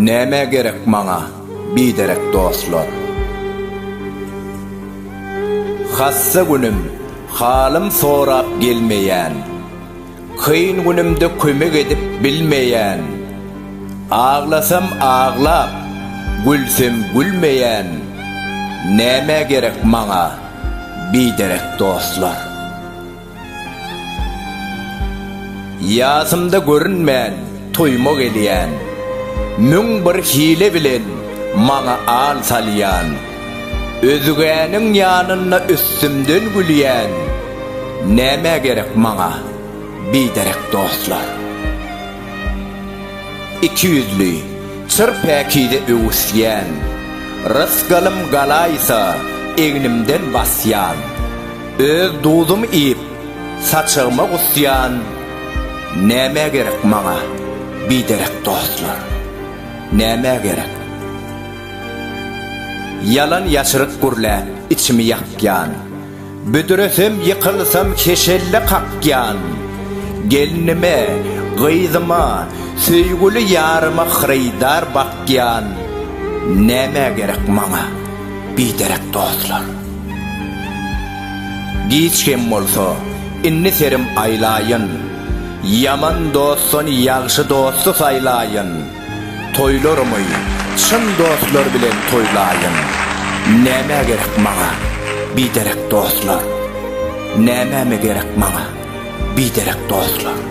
Näme gerek maňa biderek dostlar? Hassa günüm, halym sorap gelmeýän. Kyn günümde kömek edip bilmeýän, Aglasam aglap, gülsem gülmeýän, Nämä gerek maňa biderek dostlar? Ýasymda görünmän toýuma gelýän, Müň bir hile bilen maňa al salýan, Özgäniň ýanynda üstümden gülýän nämä gerek maňa biderek dostlar. Ikiýüzli, çyr päkize öwüsýän, rysgalym galaýsa egnimden basýan, öz duzym iýip saçagyma gusýan nämä gerek maňa biderek dostlar. Nämä gerek. Ýalan ýaşryk gürläp içimi ýakýan, Büdresem ýykylsam heşelle kakýan. Gelnime, gyzyma, söýgüli ýaryma Hyrydar bakýan. Nämä gerek maňa biderek dostlar? Giç hem bolsa, indi serim aýlaýyn, Ýaman dostdan ýagşy dosty saýlaýyn. Toýlarymy çyn dostlar bilen toýlaýyn. Nämä gerek maňa biderek dostlar? Nämeme gerek maňa biderek dostlar?